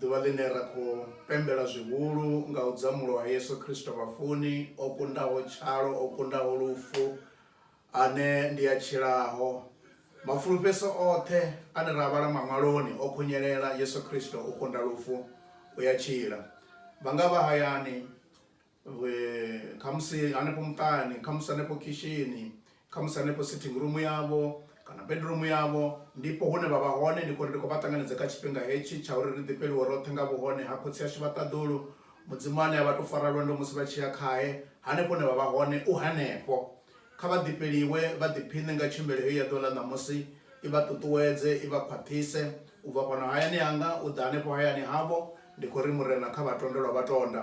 Ḓuvha ḽine ra khou pembela zwihulu nga u dzamulwa ha Yesu Kristo vhafuni, o kundaho tshalo, o kundaho lufu, ane ndi a tshilaho. Mafulufheso oṱhe ane ra a vhala Maṅwaloni o khunyelela, Yesu Kristo o kunda lufu, u a tshila. Vha nga vha hayani. khamusi hanefho muṱani khamusi hanefho khishini khamusi hanefho sitting room yavho kana bedroom yavho ndipo hune vha vha hone ndi khou ri ndi khou vha ṱanganedza kha tshifhinga hetshi tsha uri ri ḓifheliwe roṱhe nga vhuhone ha khotsi ashu vha ṱaḓulu mudzimu ane a vha to fara lwendo musi vha tshi ya khae hanefho hune vha vha hone u hanefho kha vha ḓifheliwe vha ḓiphiṋe nga tshimbele heyo ya ḓuvha ḽa ṋamusi i vha ṱuṱuwedze i vha khwaṱhise u bva fhano hayani hanga u ḓa hanefho hayani havho ndi khou ri murena kha vhatondelwa vha tonda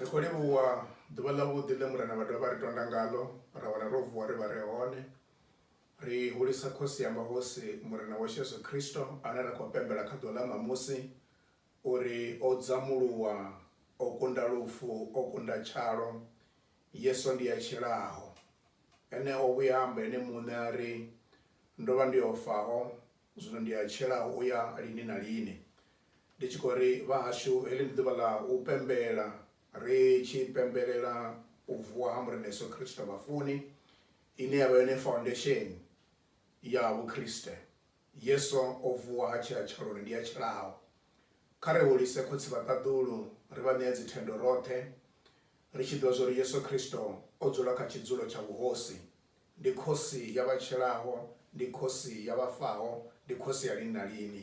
Ri khou livhuwa ḓuvha ḽavhuḓi ḽe Murena vha dovha vha ri tonda ngaḽo ra wana ro vuwa ri vha re hone. Ri hulisa Khosi ya mahosi Murena washu Yesu Kristo ane ra khou pembela kha ḓuvha ḽa ṋamusi uri o dzamuluwa, o kunda lufu, o kunda tshalo. Yesu ndi a tshilaho. Ene o vhuya a amba ene muṋe a ri, Ndo vha ndi o faho, zwino ndi a tshila u ya lini na lini. Ndi tshi khou ri, Vhahashu, heḽi ndi ḓuvha ḽa u pembela, ri tshi pembelela u vuwa ha Murena Yesu Kristo vhafuni, ine ya vha yone faundesheni ya Vhukriste. Yesu o vuwa ha tshila tshaloni, ndi a tshilaho. Kha ri hulise khotsi vha ṱaḓulu, ri vha ṋee dzithendo roṱhe, ri tshi ḓivha zwa uri Yesu Kristo o dzula kha tshidzulo tsha vhuhosi. Ndi Khosi ya vha tshilaho, ndi Khosi ya vha faho, ndi Khosi ya lini na lini.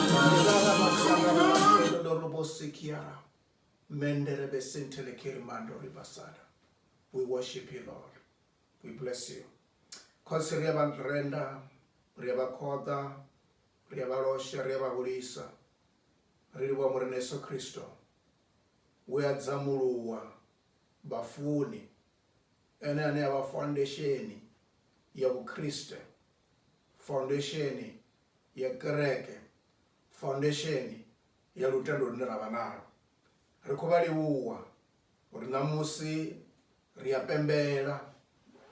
We worship you, Lord. We bless you. Khosi ri a vha renda, ri a vha khoḓa, ri a vha losha, ri a vha hulisa. Ri livhuwa Murena Yesu Kristo. We a dzamuluwa vhafuni. Ene ane a vha foundation ya Vhukriste. Foundation ya kereke, faundesheni ya lutendo lune ra vha nalwo. Ri khou vha livhuwa uri ṋamusi ri a pembela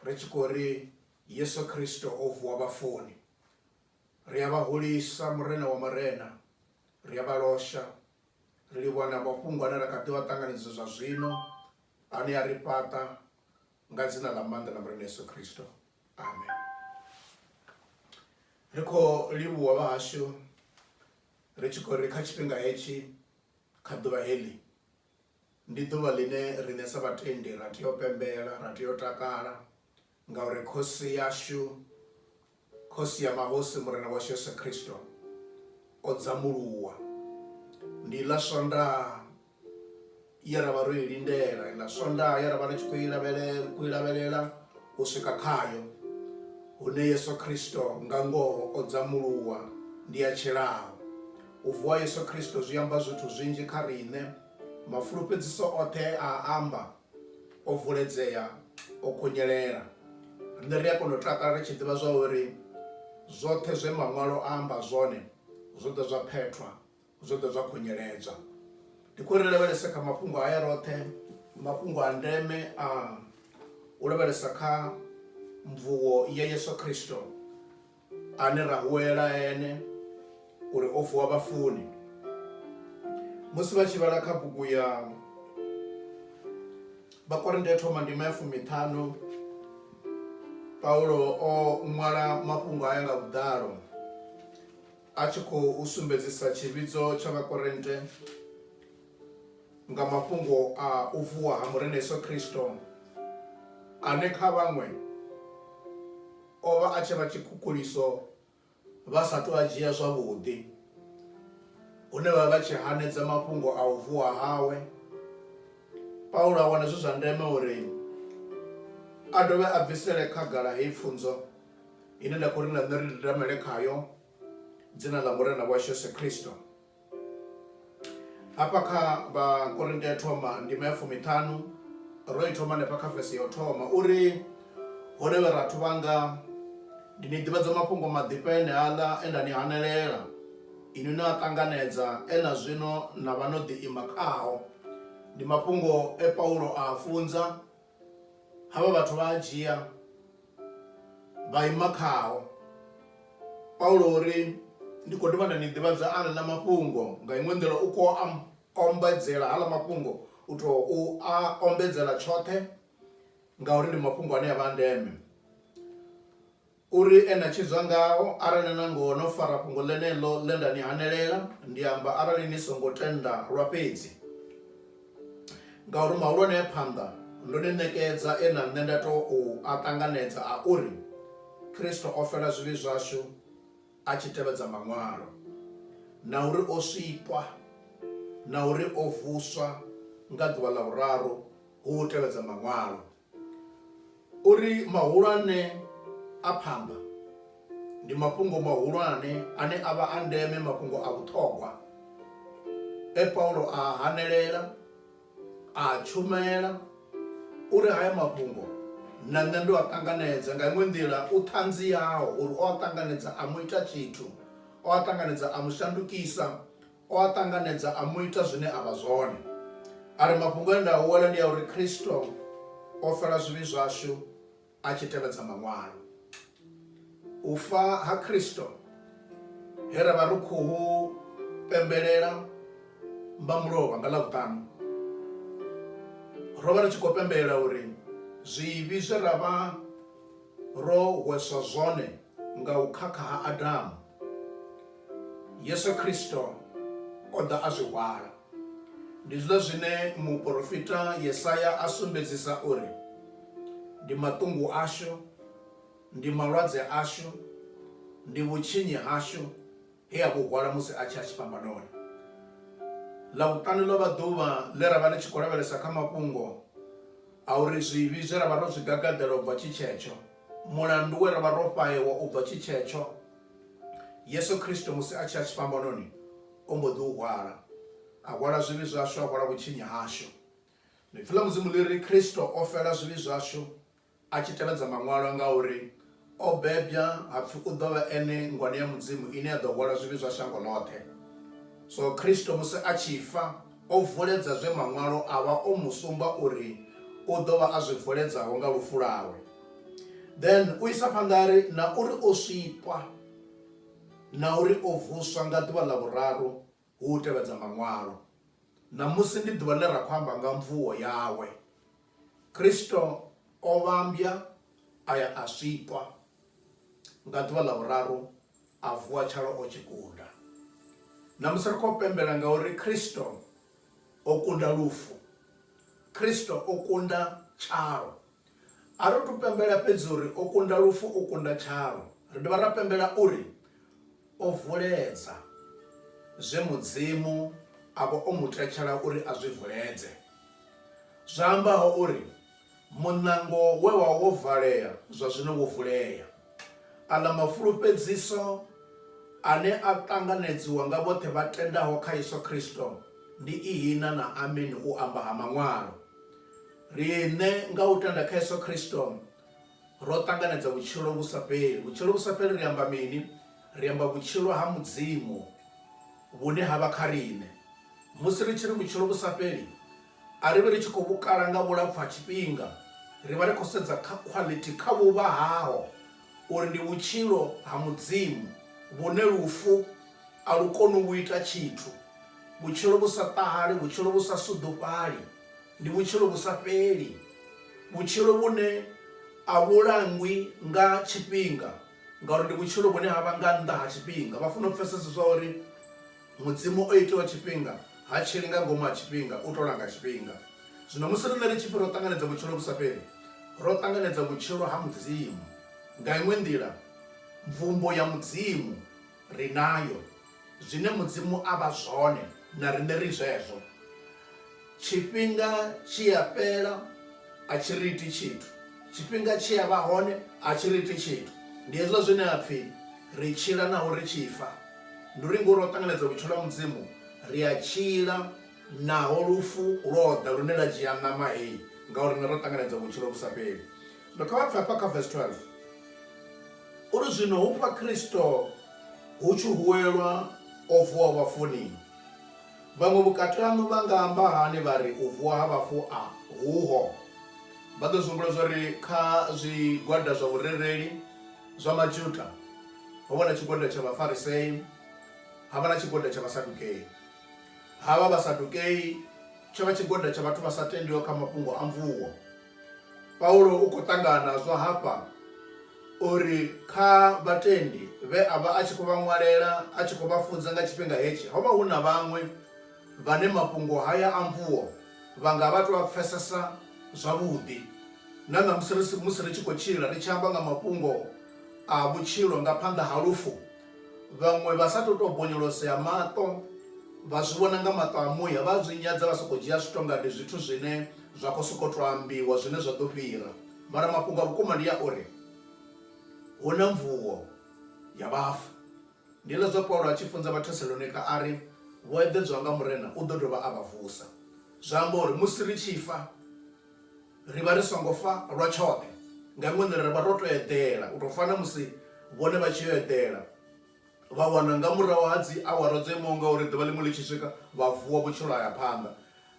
ri tshi khou ri Yesu Kristo o vuwa vhafuni. Ri a vha hulisa Murena wa Marena, ri a vha losha, ri livhuwa na mafhungo ane ra kha ḓi vha ṱanganedza zwa zwino ane a ri fhaṱa nga dzina ḽa maanḓa ḽa murena yesu khristo amen ri khou livhuwa vhahashu ri tshi khou ri kha tshifhinga hetshi kha ḓuvha heḽi ndi ḓuvha ḽine riṋe sa vhatendi ra tea u pembela ra tea u takala ngauri khosi yashu Khosi ya mahosi Murena washu Yesu Kristo o dzambuluwa. Ndi iḽa Swondaha ye ra vha ro i lindela, iḽa Swondaha ye ra vha ri tshi khou i lavhelela, khou i lavhelela u swika khayo, hune Yesu Kristo nga ngoho o dzambuluwa, ndi a tshilaho. U vuwa ha Yesu Kristo zwi amba zwithu zwinzhi kha riṋe. Mafulufhedziso oṱhe a a amba o vuledzea o khunyelela rine ri a kona u takala ri tshi ḓivha zwa uri zwoṱhe zwe maṅwalo a amba zwone zwo ḓo zwa phethwa zwo ḓo zwa khunyeledzwa ndi khou ri lavhelese kha mafhungo haya roṱhe mafhungo a ndeme a u lavhelesa kha mvuwo ya yesu khristo ane ra huwela ene uri o vuwa vhafuni musi vha tshi vhala kha bugu ya vhakorinte ya thoma ndima ya fumiṱhanu paulo o ṅwala mafhungo aya nga vhuḓalo a tshi khou sumbedzisa tshivhidzo tsha vhakorinte nga mafhungo a u vuwa ha murena yesu kristo ane kha vhaṅwe O vha a tshi vha tshikhukuliso vha sa tou a dzhia zwavhuḓi, hune vha vha vha tshi hanedza mafhungo a u vuwa hawe. Paulo a wana zwi zwa ndeme uri a dovhe a bvisele khagala heyi pfunzo ine nda khou ri na nṋe ri didamele khayo, Dzina ḽa Murena washu Yesu Kristo. hafha kha vhakorinte ya thoma ndima ya fumiṱhanu ro i thoma hanefha kha vese ya u thoma uri hone vhe rathu vhanga ndi ni ḓivhadza mafhungo maḓifha ene aḽa e nda ni hanelela inwi na a ṱanganedza ena zwino na vha no ḓi ima khao ndi mafhungo e paulo a a funza Havha vhathu vha a dzhia vha ima khao. Paulo o ri, Ndi khou dovha nda ni ḓivhadza aḽa mafhungo. Nga iṅwe nḓila u khou a ombedzela haḽa mafhungo, u tou a ombedzela tshoṱhe ngauri ndi mafhungo ane a vha a ndeme. Uri e na tshidzwa ngao, arali nangoho no fara fhungo ḽeneḽo ḽe nda ni hanelela, ndi amba arali ni songo tenda lwa fhedzi, ngauri mahulwane a phanḓa, ndo ni ṋekedza e na nṋe nda tou a ṱanganedza a uri Kristo o fela zwivhi zwashu a tshi tevhedza Maṅwalo, na uri o sikwa, na uri o vuswa nga ḓuvha ḽa vhuraru hu u tevhedza Maṅwalo. Uri mahulwane a phamba ndi mafhungo mahulwane ane a vha a ndeme, mafhungo a vhuṱhogwa e Paulo a a hanelela, a a tshumela. Uri haya mafhungo na nṋe ndo a ṱanganedza, nga iṅwe nḓila u ṱhanziaho uri o a ṱanganedza a mu ita tshithu, o a ṱanganedza a mu shandukisa, O a ṱanganedza a mu ita zwine a vha zwone. A ri, Mafhungo e nda a wela ndi a uri Kristo o fela zwivhi zwashu a tshi tevhedza Maṅwalo. U fa ha Kristo, he ra vha ri khou hu pembelela mba mulovha nga Ḽavhuṱanu, ro vha ri tshi khou pembelela uri zwivhi zwe ra vha ro hweswa zwone Nga u khakha ha Adamu, Yesu Kristo o ḓa a zwi hwala. Ndi zwiḽa zwine muporofita Yesaya a sumbedzisa uri ndi maṱungu ashu, ndi malwadze ashu, ndi vhutshinyi hashu he a vhu hwala musi a tshi ya tshifhambanoni. Ḽavhuṱanu ḽo vha ḓuvha ḽe ra vha ri tshi khou lavhelesa kha mafhungo a uri zwivhi zwe ra vha ro zwi gagaḓela u bva tshi tshetsho, Mulandu we ra vha ro fhaewa u bva tshi tshetsho, Yesu Kristo musi a tshi ya tshifhambanoni o mbo ḓi u hwala, a hwala zwivhi zwashu, a hwala vhutshinyi hashu. Ḽipfi ḽa Mudzimu ḽi ri, Kristo o fela zwivhi zwashu a tshi tevhedza Maṅwalo ngauri o bebwa ha pfi u ḓo vha ene ngwani ya Mudzimu ine ya ḓo hwala zwivhi zwa shango ḽoṱhe. So Kristo musi a tshi fa, O vuledza zwe Maṅwalo a vha o mu sumba uri u ḓo vha a zwi vuledzaho nga lufu lwawe. Then u isa phanḓa a ri, Na uri o swikwa, na uri o vuswa nga ḓuvha ḽa vhuraru hu u tevhedza Maṅwalo. Ṋamusi ndi ḓuvha ḽe ra khou amba nga mvuwo yawe. Kristo o vhambya a ya a zwikwa, nga ḓuvha ḽa vhuraru a vuwa tshalo o tshi kunda. Ṋamusi ri khou pembela ngauri Kristo o kunda lufu, Kristo o kunda tshalo. A ri thu pembela fhedzi uri o kunda lufu, o kunda tshalo, ri dovha ra pembela uri O vuledza zwe Mudzimu a vha o mu tetshela uri a zwi vuledze, zwa ambaho uri, Muṋango we wa wo valea zwa zwino wo vulea. Aḽa mafulufhedziso ane a ṱanganedziwa nga vhoṱhe vha tendaho kha Yesu Kristo ndi ihina na ameni u amba ha Maṅwalo. Riṋe nga u tenda kha Yesu Kristo Ro ṱanganedza vhutshilo vhu sa fheli. Vhutshilo vhu sa fheli ri amba mini? Ri amba vhutshilo ha Mudzimu vhune ha vha kha riṋe. Musi ri tshi ri vhutshilo vhu sa fheli, a ri vhi ri tshi khou vhu kala nga vhulapfu ha tshifhinga. Ri vha ri khou sedza kha quality, kha vhuvha haho, uri ndi vhutshilo ha Mudzimu vhune lufu a lu koni u vhu ita tshithu, vhutshilo vhu sa ṱahali, vhutshilo vhu sa suḓufhali. Ndi vhutshilo vhu sa fheli, vhutshilo vhune a vhu langwi nga tshifhinga ngauri ndi vhutshilo vhune ha vha nga nnḓa ha tshifhinga. Vha fanela u pfesesa zwa uri Mudzimu o itiwa tshifhinga, ha tshili nga ngomu ha tshifhinga, u tou langa tshifhinga. Zwino musi riṋe ri tshi pfi ro ṱanganedza vhutshilo vhu sa fheli, ro ṱanganedza vhutshilo ha Mudzimu. Nga iṅwe nḓila, mvumbo ya Mudzimu ri nayo. Zwine Mudzimu a vha zwone, na riṋe ri zwezwo. Tshifhinga tshi a fhela a tshi ri iti tshithu, tshifhinga tshi a vha hone a tshi ri iti tshithu. Ndi hezwiḽa zwine ha pfi ri tshila naho ri tshi fa. Ndi uri ngori ro ṱanganedza vhutshilo ha Mudzimu, ri a tshila naho lufu lwo ḓa lune lwa dzhia ṋama heyi nga uri riṋe ro ṱanganedza vhutshilo vhu sa fheli. Zwino kha vha pfe hafha kha vesi 12 uri, Zwino hufha Kristo hu tshi huwelwa o vuwaho vhafuni, Vhaṅwe vhukati haṋu vha nga amba hani vha ri u vuwa ha vhafu a huho? Vha ḓo zwi humbula zwa uri kha zwigwada zwa vhurereli zwa Majuda ho vha na tshigwada tsha Vhafarisei ha vha na tshigwada tsha Vhasadukei. Havha Vhasadukei tsho vha tshigwada tsha vhathu vha sa tendiho kha mafhungo a mvuwo. Paulo u khou ṱangana nazwo hafha uri kha vhatendi vhe a vha a tshi khou vha ṅwalela a tshi khou vha funza nga tshifhinga hetshi, ho vha hu na vhaṅwe vhane mafhungo haya a mvuwo vha nga vha tou a pfesesa zwavhuḓi. Na ṋamusi musi ri tshi khou tshila ri tshi amba nga mafhungo a vhutshilo nga phanḓa ha lufu, vhaṅwe vha sa tou tou bonyolosea maṱo vha zwi vhona nga maṱo a muya vha zwi nyadza vha sokou dzhia zwithu nga ndi zwithu zwine zwa khou sokou tou ambiwa zwine zwa ḓo fhira mara mafhungo a vhukuma ndi a uri hu na mvuwo ya vhafu ndi ḽa zwa paulo a tshi funza vhathesalonika a ri vho eḓedzwa nga murena u ḓo dovha a vha vusa zwa amba uri musi ri tshi fa ri vha ri songo fa lwa tshoṱhe nga iṅwe nḓila ri vha ro to eḓela u tou fana musi vhone vha tshi yo eḓela vha wana nga murahu ha dzi awara dzo imaho nga uri ḓuvha ḽiṅwe ḽi tshi swika vha vuwa vhutshilo haya phanḓa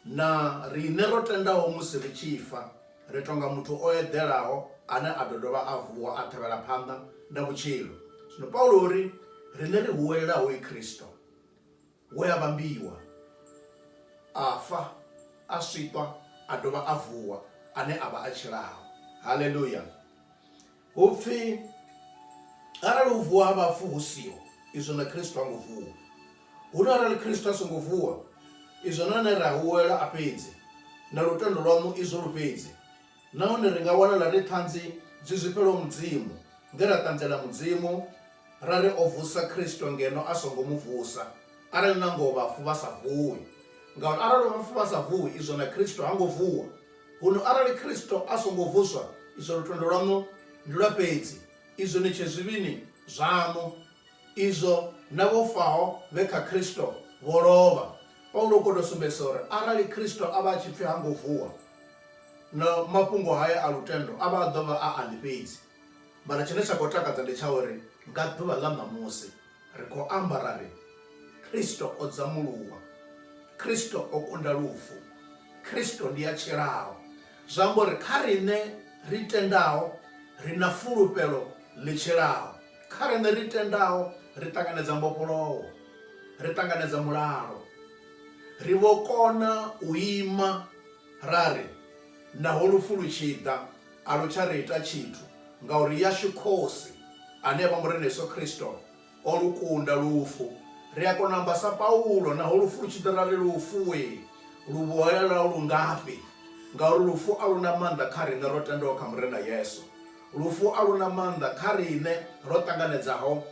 na riṋe ro tendaho musi ri tshi fa ri tonga muthu o eḓelaho ane a ḓo dovha a vuwa a tevhela phanḓa na vhutshilo zwino paulo uri riṋe ri huwelelaho i khristo We a vhambiwa, a fa, a swiṱwa, a dovha a vuwa, ane a vha a tshilaho. Haleluya! Hu pfi, arali u vuwa ha vhafu hu siho, izwo na Kristo ha ngo vuwa. Huno arali Kristo a songo vuwa, izwo na ane ra huwelwa a fhedzi, na lutendo lwaṋu izwo lu fhedzi. Nahone ri nga wanala ri ṱhanzi dzi zwifhelaho Mudzimu nge ra ṱanziela Mudzimu ra ri o vusa Kristo ngeno a songo mu vusa, arali nangoho vhafu vha sa vuwi. Ngauri arali vhafu vha sa vuwi, izwo na Kristo ha ngo vuwa. Huno arali Kristo a songo vuswa, izwo lutendo lwaṋu ndi lwa fhedzi, izwo ni tshe zwivhini zwaṋu. Izwo na vho faho vhe kha Kristo vho lovha. Paulo u khou tou sumbedzisa uri arali Kristo a vha a tshi pfi ha ngo vuwa, Na mafhungo haya a lutendo a vha a ḓo vha a aḽi fhedzi. Mara tshine tsha khou takadza ndi tsha uri nga ḓuvha ḽa ṋamusi ri khou amba ra ri, Kristo o dzamuluwa, Kristo o kunda lufu, Kristo ndi a tshilaho. Zwi amba uri kha riṋe ri tendaho ri na fulufhelo ḽi tshilaho. Kha riṋe ri tendaho ri ṱanganedza mbofholowo, ri ṱanganedza mulalo, ri vho kona u ima. Ra ri, Naho lufu lu tshi ḓa, a lu tsha ri ita tshithu, ngauri yashu Khosi, ane a vha Murena Yesu Kristo, o lu kunda lufu. Ri a kona u amba sa Paulo, Naho lufu lu tshi ḓa, ra ri, Lufu-e, luvhuhela lwau lu ngafhi? Ngauri lufu a lu na maanḓa kha riṋe ro tendaho kha Murena Yesu. Lufu a lu na maanḓa kha riṋe ro ṱanganedzaho.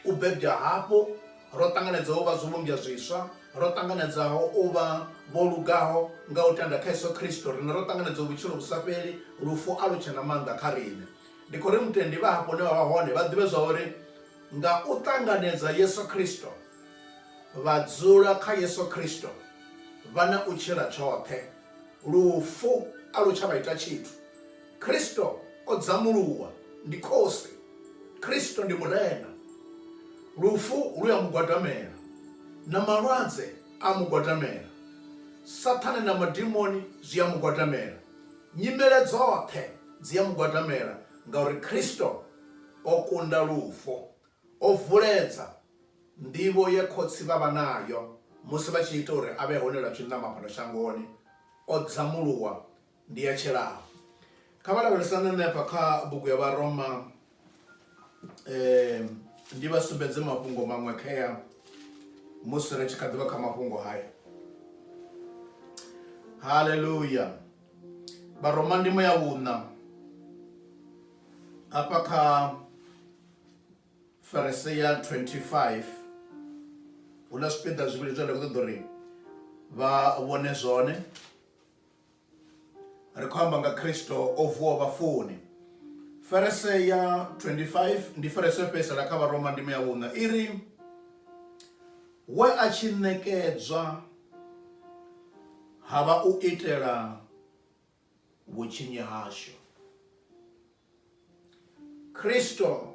U bebwa hafhu, ro ṱanganedza u vha zwivhumbwa zwiswa, ro ṱanganedzaho u vha vho lugaho nga u tenda kha Yesu Kristo. Riṋe ro ṱanganedzwa vhutshilo vhu sa fheli, lufu a lu tshe na maanḓa kha riṋe. Ndi khou ri mutendi vha hafha hune vha vha hone vha ḓivhe zwa uri nga u ṱanganedza Yesu Kristo, vha dzula kha Yesu Kristo, vha na u tshila tshoṱhe. Lufu a lu tsha vha ita tshithu. Kristo o dzamuluwa, ndi Khosi. Kristo ndi Murena. Lufu lu a Mu gwadamela, na malwadze a Mu gwadamela, Sathane na madimoni zwi a Mu gwadamela, nyimele dzoṱhe dzi a Mu gwadamela, ngauri Kristo o kunda lufu. O vuledza nḓivho ye khotsi vha vha nayo musi vha tshi ita uri a vhe hone lwa tshiṋama fhano shangoni. O dzamuluwa, Ndi ya tshelaa. Kha vha lavhelesane na hafha kha bugu ya Vharoma, ndi vha sumbedze mafhungo maṅwe khea musi ri tshi kha ḓivha kha mafhungo haya. Haleluya. Vharoma ndimo ya vhuṋa hafha kha verse ya 25 huna zwipiḓa zwivhili zwine nda khou ṱoḓa uri vha vhone zwone. ri khou amba nga kristo o vuwa vhafuni ferese ya 25 ndi ferese yo fhedzisela kha vharoma ndimo ya vhuṋa i ri we a tshi ṋekedzwa ha vha u itela vhutshinyi hashu Kristo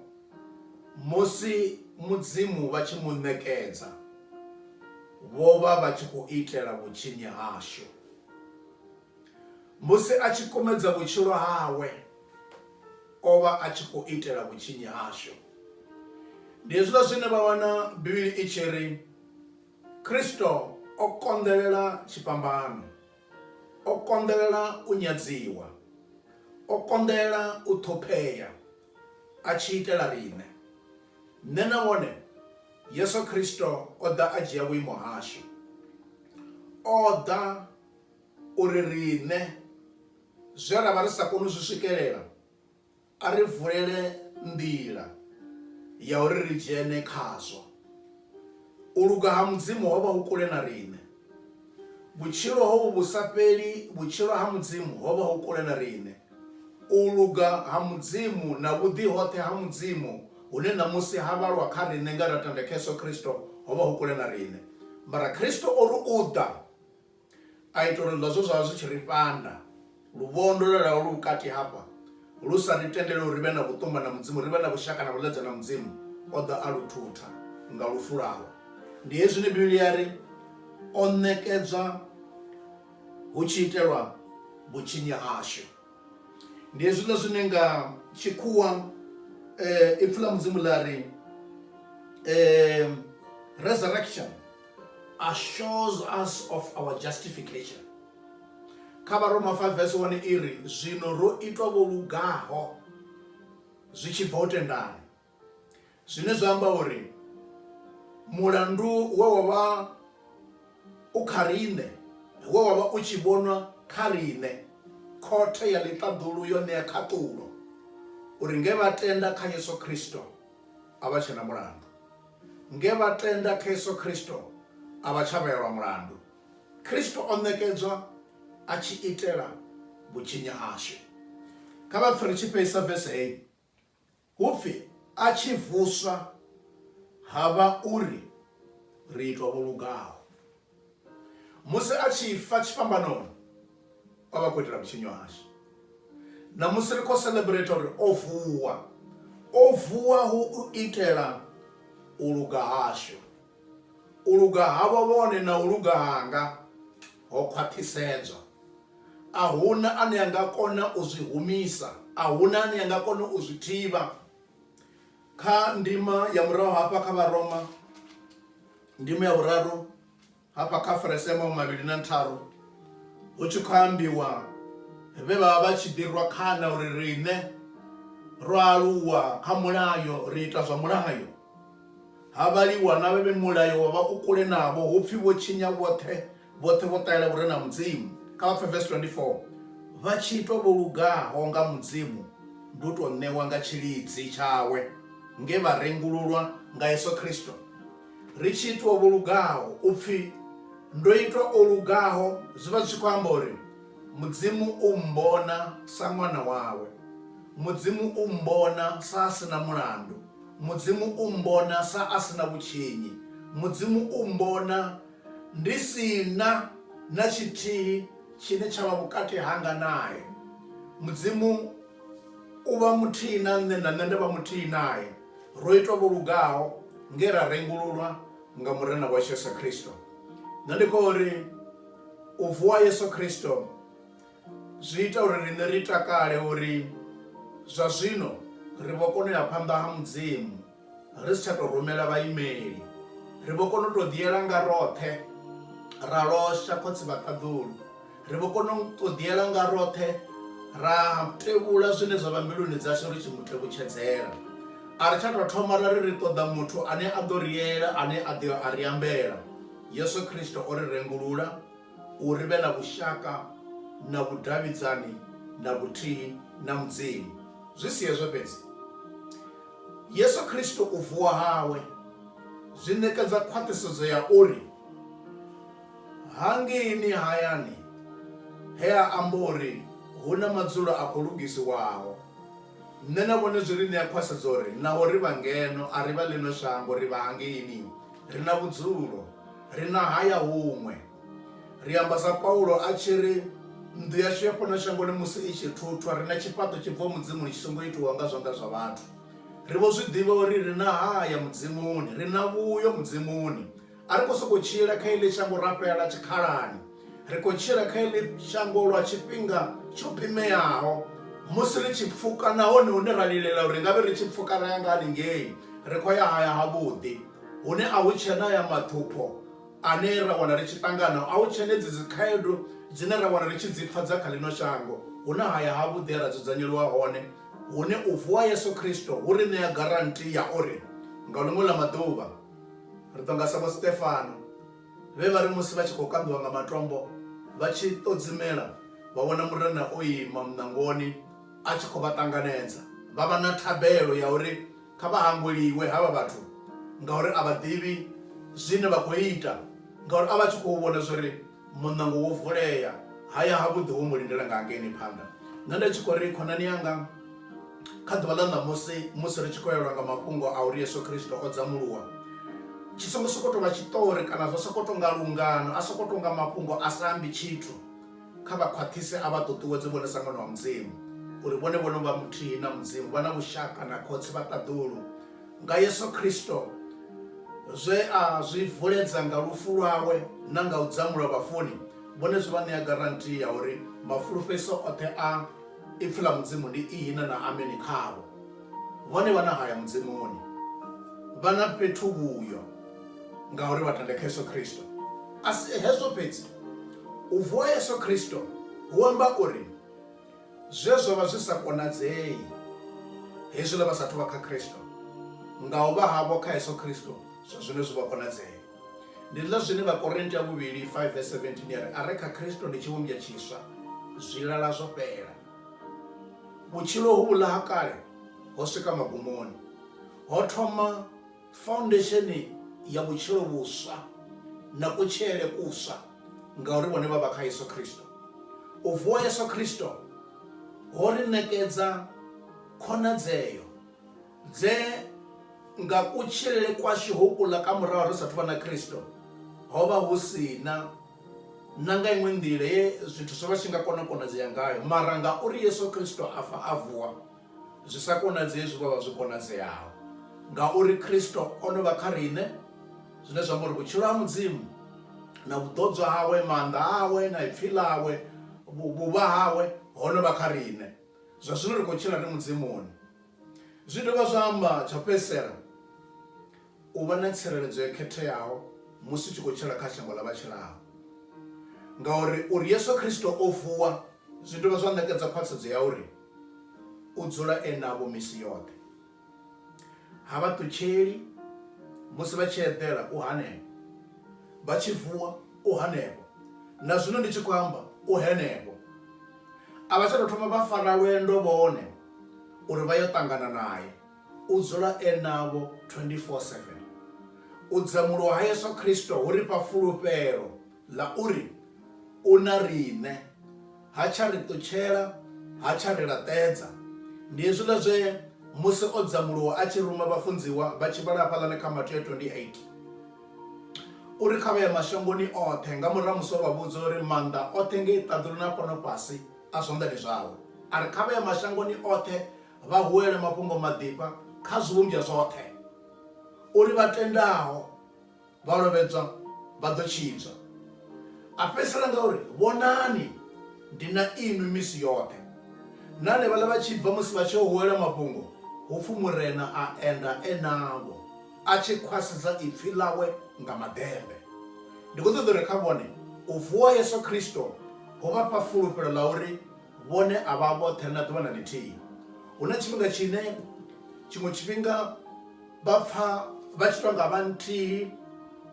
musi Mudzimu vha tshi mu ṋekedza, vho vha vha tshi khou itela vhutshinyi hashu. Musi a tshi kumedza vhutshilo hawe, o vha a tshi khou itela vhutshinyi hashu. Ndi hezwiḽa zwine vha wana Bivhili i tshi ri, Kristo o konḓelela tshifhambano. O konḓelela u nyadziwa. O konḓelela u ṱhophea a tshi itela riṋe. Nṋe na wone, Yesu Kristo o ḓa a dzhia vhuimo hashu. O ḓa uri riṋe zwe ra vha ri sa koni u zwi swikelela, A ri vulele nḓila ya uri ri dzhene khazwo. U luga ha Mudzimu ho vha hu kule na riṋe. Vhutshilo hovhu vhu sa fheli, vhutshilo ha Mudzimu, ho vha hu kule na riṋe. U luga ha Mudzimu na vhuḓi hoṱhe ha Mudzimu hune ṋamusi ha vhalwa kha riṋe nge ra tenda kha Yesu Kristo ho vha hu kule na riṋe. Mara Kristo o ri u ḓa. A ita uri zwe zwa vha zwi tshi ri fhanda, luvhondo lwe lwa vha lu vhukati hafha, lu sa ri tendele uri ri vhe na vhuṱumba na Mudzimu, ri vhe na vhushaka na vhuḽedzwa na Mudzimu, o ḓa a lu thutha nga lufu lwawe. Ndi hezwi zwine Bivhili ya ri, O ṋekedzwa hu tshi itelwa vhutshinyi hashu. Ndi hezwiḽa zwine nga tshikhuwa Ipfi ḽa Mudzimu ḽa ri resurrection. assures us of our justification kha vharoma 5 vese 1 i ri zwino ro itwa vho lugaho zwi tshi bva u tendana zwine zwa amba uri mulandu we wa vha u kha riṋe we wa vha u tshi vhonwa kha riṋe khothe ya ḽiṱaḓulu yo ṋea khaṱulo uri nge vha tenda kha yesu kristo a vha tshe na mulandu Nge vha tenda kha Yesu Kristo, a vha tsha vheelwa mulandu. Kristo o ṋekedzwa a tshi itela vhutshinyi hashu. Kha vha pfe ri tshi fhelisa vese heyi, hu pfi, A tshi vuswa, ha vha uri ri itwa vho lugaho. musi a tshi fa tshifhambanoni o vha khou itela vhutshinyo hashu ṋamusi ri khou celebrate uri o vuwa o vuwa hu u itela u luga hashu u luga havho vhone na u luga hanga ho khwaṱhisedzwa a huna ane a nga kona u zwi humisa a huna ane a nga kona u zwi thivha kha ndima ya murahu hafha kha vharoma Ndimo ya vhuraru hafha kha verese ya mahumavhili na ntharu hu tshi khou ambiwa vhe vha vha vha tshi ḓi rwa khana uri riṋe ro aluwa kha mulayo ri ita zwa mulayo ha vhaliwa na vhe vhe mulayo wa vha u kule navho hupfi vho tshinya vhoṱhe Vhoṱhe vho ṱahela vhu re na Mudzimu. Kha vha pfe vesi 24. Vha tshi itwa vho lugaho nga Mudzimu ndi u tou ṋewa nga tshilidzi tshawe nge vha rengululwa nga Yesu Kristo. Ri tshi itwa vho lugaho, u pfi ndo itwa o lugaho zwi vha zwi tshi khou amba uri Mudzimu u mmbona sa ṅwana wawe. Mudzimu u mmbona sa a si na mulandu. Mudzimu u mmbona sa a si na vhutshinyi. Mudzimu u mmbona Ndi si na na tshithihi tshine tsha vha vhukati hanga nae. Mudzimu u vha muthihi na nṋe, na nṋe nda vha muthihi nae. Ro itwa vho lugaho nge ra rengululwa nga Murena washu Yesu Kristo. Nṋe ndi khou ri u vuwa ha Yesu Kristo zwi ita uri riṋe ri takale uri zwa zwino ri vho kona u ya phanḓa ha Mudzimu. ri si tsha tou rumela vhaimeli ri vho kona u tou ḓiela nga roṱhe ra losha khotsi vhaṱaḓulu ri vho kona u tou ḓiela nga roṱhe ra tevhula zwine zwa vha mbiluni dzashu ri tshi mu tevhutshedzela a ri tsha tou thoma ra ri ri ṱoḓa muthu ane a ḓo ri yela ane a ḓo a ri ambela yesu khristo o ri rengulula u ri vhe na vhushaka na vhudavhidzani na vhuthihi na mudzimu zwi si hezwo fhedzi Yesu Kristo u vuwa hawe zwi ṋekedza khwaṱhisedzo ya uri hangei ni hayani he a amba uri hu na madzulo a khou lugisiwaho, nṋe na vhone zwi ri ṋea khwaṱhisedzo uri naho ri vha ngeno, a ri vha ḽino shango, ri vha hangeini, ri na vhudzulo, ri na haya huṅwe. Ri amba sa Paulo a tshi ri, Nnḓu yashu ya fhano shangoni musi i tshi thuthwa, ri na tshifhaṱo tshi bvaho Mudzimuni tshi songo itiwaho nga zwanḓa zwa vhathu. Ri vho zwi ḓivha uri ri na haya Mudzimuni, ri na vhuyo Mudzimuni. A ri khou sokou tshila kha iḽi shango ra fhela tshikhalani. Ri khou tshila kha iḽi shango lwa tshifhinga tsho pimeaho. Musi ri tshi pfuka, nahone hune ra lilela uri ri nga vhe ri tshi pfuka ra ya nga haningei, ri khou ya haya havhuḓi, hune a hu tsheena aya maṱhupho, ane ra wana ri tshi ṱangana a u tshenedzi dzikhaedu dzine ra wana ri tshi dzi pfa dza kha ḽino shango, hu na haya havhuḓi he ra dzudzanyelwa hone hune u vuwa ha Yesu Kristo hu ri ṋea garanti ya uri nga ḽiṅwe ḽa maḓuvha ri ḓo nga sa Vho Stefano, vhe vha ri musi vha tshi khou kanḓiwa nga matombo vha tshi ṱodzimela vha vhona Murena o ima muṋangoni a tshi khou vha ṱanganedza. Vha vha na thabelo ya uri Kha vha hangweliwe havha vhathu, ngauri a vha ḓivhi zwine vha khou ita. Ngauri a vha tshi khou vhona zwa uri muṋango wo vulea, ha ya havhuḓi ho mu lindela nga hangeini phanḓa. Nṋe nda tshi khou ri, Khonani yanga, kha ḓuvha ḽa ṋamusi musi ri tshi khou elwa nga mafhungo a uri Yesu Kristo o dzamuluwa, tshi songo sokou tou vha tshiṱori kana zwa sokou tou nga lungano, a sokou tou nga mafhungo a sa ambi tshithu. kha vha khwaṱhise a vha ṱuṱuwedze vhone sa ṅwana wa mudzimu uri vhone vho no vha muthihi na mudzimu vha na vhushaka na khotsi vha ṱaḓulu nga yesu khristo zwe a zwi vuledza nga lufu lwawe na nga u dzamulwa vhafuni vhone zwi vha ṋea garanti ya uri mafulufhedziso oṱhe a ipfi ḽa mudzimu ndi ihina na ameni khavho vhone vha na haya mudzimuni vha na fhethu vhuyo ngauri vha tende kha yesu khristo a si hezwo fhedzi U vuwa Yesu Kristo hu amba uri zwe zwa vha zwi sa konadzei hezwiḽa vha sathu vha kha Kristo, nga u vha havho kha Yesu Kristo zwa zwino zwi vho konadzea. Ndi ḽa zwine Vhakorinte wa vhuvhili 5 vese 17 ya ri, A re kha Kristo ndi tshivhumbwa tshiswa, zwilala zwo fhela, vhutshilo hovhuḽa ha kale ho swika magumoni, ho thoma faundesheni ya vhutshilo vhuswa na kutshilele kuswa ngauri vhone vha vha kha Yesu Kristo. U vuwa Yesu Kristo ho ri ṋekedza khonadzeo dze nga kutshilele kwashu ho kuḽa ka murahu ri sathu vha na Kristo ho vha hu si na na nga iṅwe nḓila ye zwithu zwo vha zwi tshi nga kona u konadzea ngayo mara ngauri Yesu Kristo a fa a vuwa Zwi sa konadzei zwi vho vha zwi konadzeaho ngauri Kristo o no vha kha riṋe, zwine zwa amba uri vhutshilo ha Mudzimu na vhuḓodzwa hawe, maanḓa awe na ipfi ḽawe, vhuvha hawe ho no vha kha riṋe. Zwa zwino ri khou tshila ri Mudzimuni. Zwi dovha zwa amba, tsha u fhedzisela, u vha na tsireledzo yo khetheaho musi u tshi khou tshila kha shango ḽa vha tshilaho. Ngauri uri Yesu Kristo o vuwa zwi dovha zwa ṋekedza khwaṱhisedzo ya uri u dzula e navho misi yoṱhe. Ha vha ṱutsheli musi vha tshi eḓela, u hanefho, vha tshi vuwa, u hanefho, na zwino ndi tshi khou amba, u henefho. A vha tsha tou thoma vha fara lwendo vhone uri vha yo ṱangana nae. U dzula e navho 24-7. U dzamulwa ha Yesu Kristo hu ri fha fulufhelo ḽa uri u na riṋe, ha tsha ri ṱutshela, ha tsha ri laṱedza. Ndi hezwiḽa zwe musi o dzamuluwa a tshi ruma vhafunziwa vha tshi vhala hafhaḽani kha Mateo 28 uri kha vha ye mashangoni oṱhe nga murahu ha musi o vha vhudza uri maanḓa oṱhe ngei ṱaḓulu na fhano fhasi a zwanḓani zwawe. A ri kha vha ye mashangoni oṱhe vha huwele mafhungo maḓifha kha zwivhumbwa zwoṱhe, uri vha tendaho vha lovhedzwa vha ḓo tshidzwa. A fhedzisela nga uri, Vhonani, ndi na inwi misi yoṱhe. Na hanevhaḽa vha tshi bva musi vha tshi yo huwela mafhungo, hu pfi Murena a enda e navho, a tshi khwasedza ipfi ḽawe nga maḓembe. Ndi khou ṱoḓa uri kha vhone u vuwa ha Yesu Kristo ho vha fha fulufhelo ḽa uri Vhone a vha vhoṱhe na ḓuvha na ḽithihi. Hu na tshifhinga tshine tshiṅwe tshifhinga vha pfa vha tshi tou nga vha nthihi,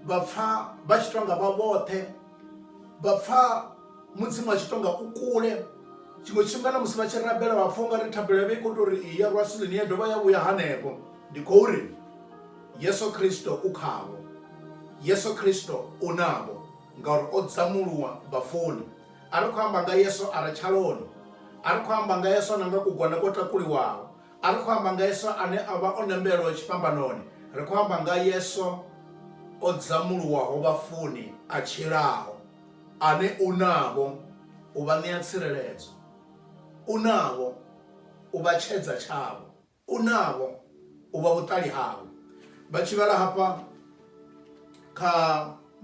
vha pfa vha tshi tou nga vha vhoṱhe, vha pfa Mudzimu a tshi tou nga u kule. Tshiṅwe tshifhinga na musi vha tshi rabela vha pfa u nga ri thabelo yavho i khou tou ri i ya rwa silini ya dovha ya vhuya hanefho. Ndi khou ri, Yesu Kristo u khavho. Yesu Kristo u navho ngauri o dzamuluwa vhafuni. A ri khou amba nga Yesu a re tshaloni. A ri khou amba nga Yesu na nga kugone kwo takuliwaho. A ri khou amba nga Yesu ane o vha o nembelwa tshifhambanoni. Ri khou amba nga Yesu o dzamuluwaho vhafuni, a tshilaho, ane u navho u vha ṋea tsireledzo, u navho u vha tshedza tshavho. Kunavho u vha vhuṱali hawe. Vha tshi vhala hafha kha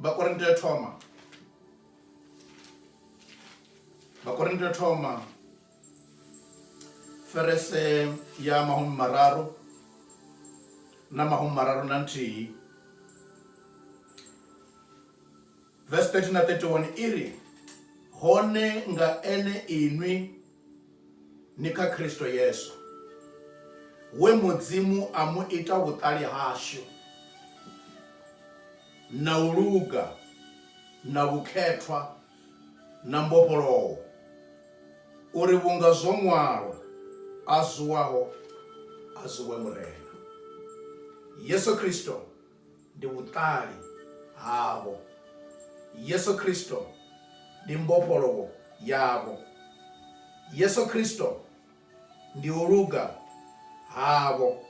Vhakorinte ya thoma Vhakorinte ya thoma ferese ya mahumi mararu na mahumi mararu na nthihi verse 30 na 31 iri hone nga ene inwi Ni kha Kristo Yesu, we Mudzimu a mu ita vhuṱali hashu, na u luga, na vhukhethwa, na mbofholowo, uri vhunga zwo ṅwalwa, A zuwaho a zuwe Murena. Yesu Kristo. ndi vhuṱali havho. Yesu Kristo ndi mbofholowo yavho. Yesu Kristo ndi u luga havho.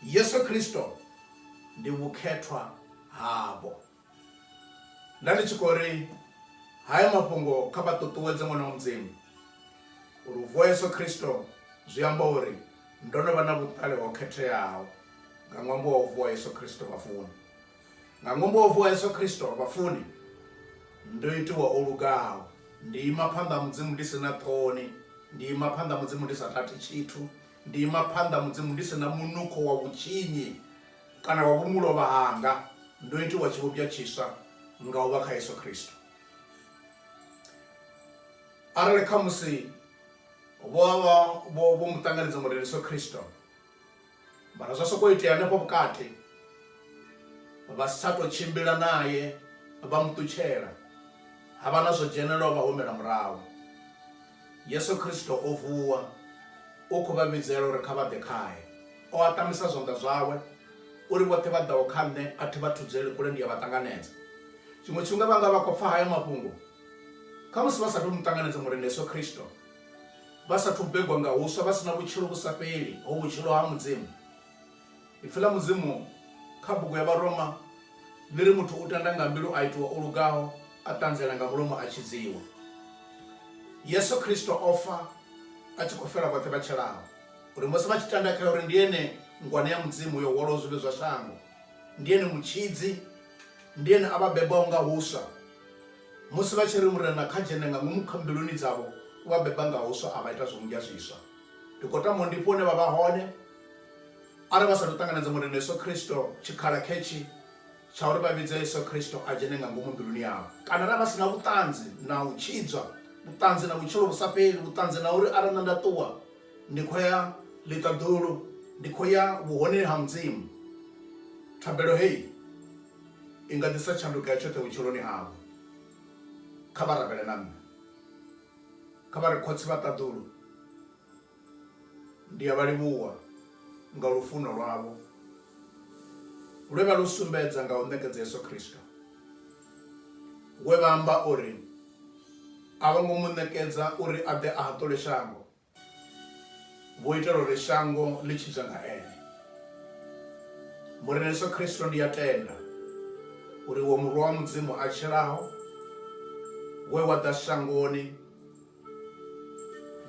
Yesu Kristo ndi vhukhethwa havho. Nda ndi tshi khou ri haya mafhungo kha vha ṱuṱuwedze ṅwana wa Mudzimu, uri u vuwa Yesu Kristo zwi amba uri Ndo no vha na vhuṱali ho khetheaho nga ṅwambo wa u vuwa ha Yesu Kristo vhafuni. Nga ṅwambo wa u vuwa ha Yesu Kristo vhafuni, ndo itiwa o lugaho. Ndi ima phanḓa ha Mudzimu ndi si na ṱhoni, ndi ima phanḓa ha Mudzimu ndi sa tati tshithu, ndi ima phanḓa ha Mudzimu ndi si na munukho wa vhutshinyi kana wa vhumulovha hanga. Ndo itiwa tshivhumbwa tshiswa nga u vha kha Yesu Kristo. Arali khamusi. vho vha vho vho mu ṱanganedza Murendi Yesu Kristo mara zwa sokou itea hanefho vhukati vha si tsha tou tshimbila naye vha mu ṱutshela ha vha na zwo dzhenelaho vha humela murahu Yesu Kristo o vuwa u khou vha vhidzela uri kha vha ḓe khae o aṱamisa zwanḓa zwawe uri vhoṱhe vha ḓaho kha nṋe a thi vha thudzeli kule ndi a vha ṱanganedza tshiṅwe tshifhinga vha nga vha khou pfha haya mafhungo Kha musi vha sa tou mu ṱanganedza Murena Yesu Kristo, vha sa thu begwa nga huswa, vha si na vhutshilo vhu sa fheli ho vhutshilo ha Mudzimu. Ipfi ḽa Mudzimu kha bugu ya Vharoma ḽi ri, Muthu u tenda nga mbilu a itiwa o lugaho, a ṱanziela nga mulomo a tshidziwa. Yesu Kristo o fa a tshi khou fela vhoṱhe vha tshelaho, uri musi vha tshi tenda khae uri ndi ene Ngwana ya Mudzimu yo hwalaho zwivhi zwa shango, ndi ene Mutshidzi, ndi ene a vha bebaho nga huswa, Musi vha tshi ri, Murena, kha dzhene nga ngomu kha mbiluni dzavho, u vha beba nga huswa a vha ita zwimmbwa zwiswa. Ndi khou tama u ndifha hune vha vha hone, arali vha sa athu ṱanganedza Murena Yesu Kristo, tshikhala khetshi tsha uri vha vhidze Yesu Kristo a dzhene nga ngomu mbiluni yavho. Kana arali vha si na vhuṱanzi na u tshidzwa, vhuṱanzi na vhutshilo vhu sa fheli, vhuṱanzi na uri arali nṋe nda ṱuwa, ndi khou ya ḽiṱaḓulu, ndi khou ya vhuhoneni ha Mudzimu, thabelo hei. I nga ḓisa tshanduko ya tshoṱhe vhutshiloni havho. Kha vha rabele na nṋe. Kha vha ri, Khotsi vha ṱaḓulu, ndi a vha livhuwa nga lufuno lwavho lwe vha lu sumbedza nga u ṋekedza Yesu Kristo, we vha amba uri a vho ngo mu ṋekedza uri a ḓe a haṱule shango, vho itela uri shango ḽi tshidzwe nga ene murena yesu khristo ndi ya tenda uri wo murwa wa mudzimu a tshilaho we wa ḓa shangoni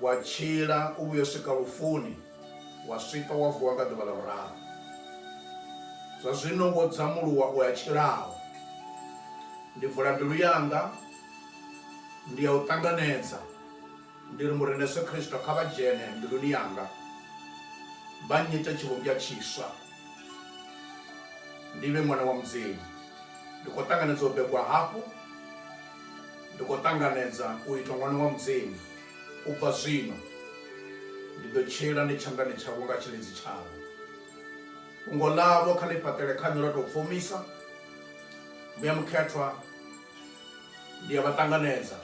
wa tshila u vhuyo swika lufuni wa swika wa vuwa nga ḓuvha ḽa vhuraru zwa zwino wo dzamuluwa u ya tshilaho ndi vula mbilu yanga ndi ya u ṱanganedza Ndi ri, Mureṋe Yesu Kristo, kha vha dzhene mbiluni yanga, vha nnyite tshivhumbwa tshiswa, ndi vhe ṅwana wa Mudzimu. Ndi khou ṱanganedza u begwa hafhu. Ndi khou ṱanganedza u itwa ṅwana wa Mudzimu. U bva zwino, ndi ḓo tshila ndi tshanḓani tshavho nga tshilidzi tshavho. Fhungo ḽavho kha ḽi fhaṱele kha nṋe lwa tou pfumisa, Muya Mukhethwa. ndi a vha ṱanganedza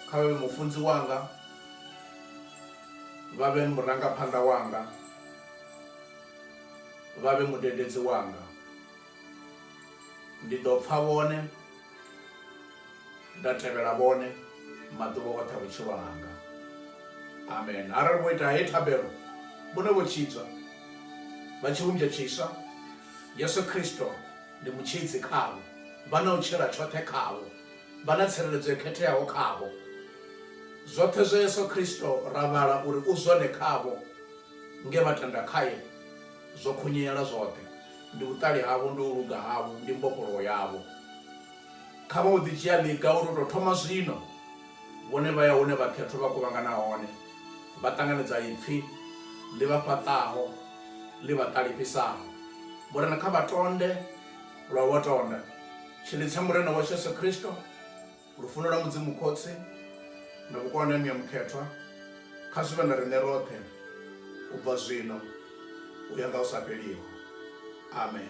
kha vhe mufunzi wanga vha vhe murangaphanḓa wanga vha vhe mudededzi wanga ndi ḓo pfa vhone nda tevhela vhone maḓuvha oṱhe a vhutshilo hanga amen arali vho ita he thabelo vhone vho tshidzwa vha tshivhumbya tshiswa yesu kristo Ndi mutshidzi khavho. Vha na u tshila tshoṱhe khavho. Vha na tsireledzo yo khetheaho khavho. Zwoṱhe zwa Yesu Kristo ra vhala uri u zwone khavho, nge vha tenda khae, zwo khunyeela zwoṱhe. Ndi vhuṱali havho, ndi u luga havho, ndi mbofholowo yavho. Kha vha u ḓi dzhia ḽiga uri u tou thoma zwino, vhone vha ya hune vhakhethwa vha kuvhangana hone. Vha ṱanganedza ipfi ḽi vha fhaṱaho, ḽi vha ṱalifhisaho. Murena kha vha tonde lwa vho tonda. Tshilidzi tsha Murena washu Yesu Kristo, lufuno lwa Mudzimu Khotsi na vhukonani ha Muya Mukhethwa kha zwi vhe na riṋe roṱhe u bva zwino u ya nga hu sa fheliho. Amen.